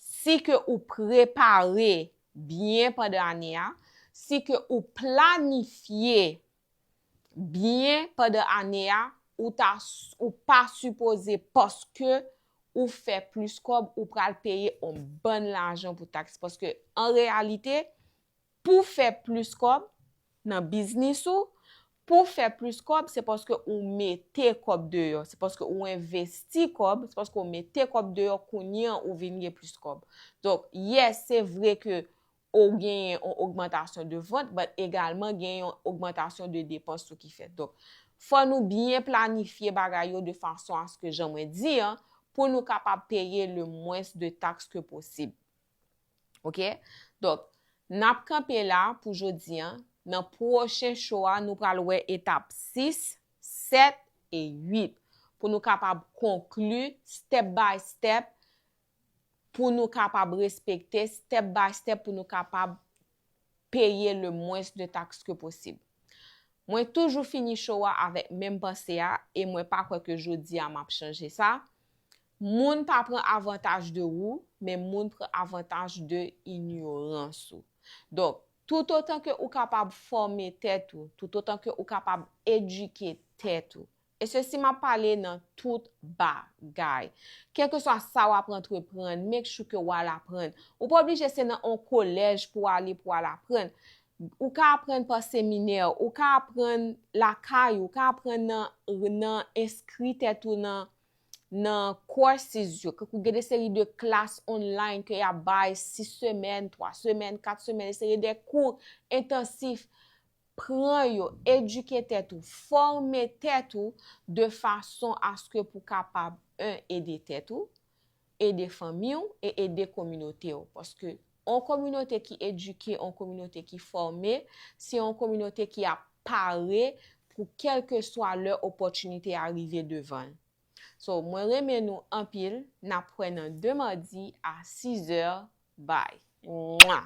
Si ke ou prepare byen pandan ane a, si ke ou planifye byen pandan ane a ou ta ou pa sipoze paske ou fè plis kòb ou pral peye on bann lajan pou taks paske an reyalite pou fè plis kòb nan biznis ou pou fè plis kòb se paske ou mete kòb deyò se paske ou envesti kòb se paske ou mete kòb deyò kounye an ou vin gen plis kòb donk yes se vre ke ou genyen yon ogmantasyon de vant but egalman genyen yon ogmantasyon de depans tou ki fèt. Donk, fò nou byen planifye bagay yo de fason aske jan mwen di an, pou nou kapab peye le mwens de taks ke posib. Ok? Donk, n ap kanpe la pou jodi an, nan pwochen show a nou pral wè etap 6, 7 e 8 pou nou kapab konkli step by step pou nou kapab respekte step by step pou nou kapab peye le mwens de taks ke posib. Mwen toujou fini show a avèk menm panse a e mwen pa kwè ke jodi a map chanje sa, moun pa pran avantaj de ou, men moun pran avantaj de inyorans ou. Donk, tout otan ke ou kapab fòme tèt ou, tout otan ke ou kapab edike tèt ou, E sesi map pale nan tout ba gay. Kelkeswa sa wap antreprann, make sure ke wal aprann. Ou pa oblije se nan on kolèj pou ale pou al aprann. Ou ka aprann pa seminè, ou ka aprann lakay ou, ou ka aprann nan enskri tèt ou nan nan courses yo. Koukou gen de seri de klas online ke yap bay 6 semèn, 3 semèn, 4 semèn, de seri de kou entansif Pran yo, edike tèt ou, fòme tèt ou de fason aske pou kapab 1 ede tèt ou, ede fanmi w e ede kominote w. Paske on kominote ki edike, on kominote ki fòme, se on kominote ki ap pare pou kèlkeswa lè opòtinite a rive devan l. So, mwen renmen nou anpil, n ap kwè nan de madi a 6 zè, bye. Mwah!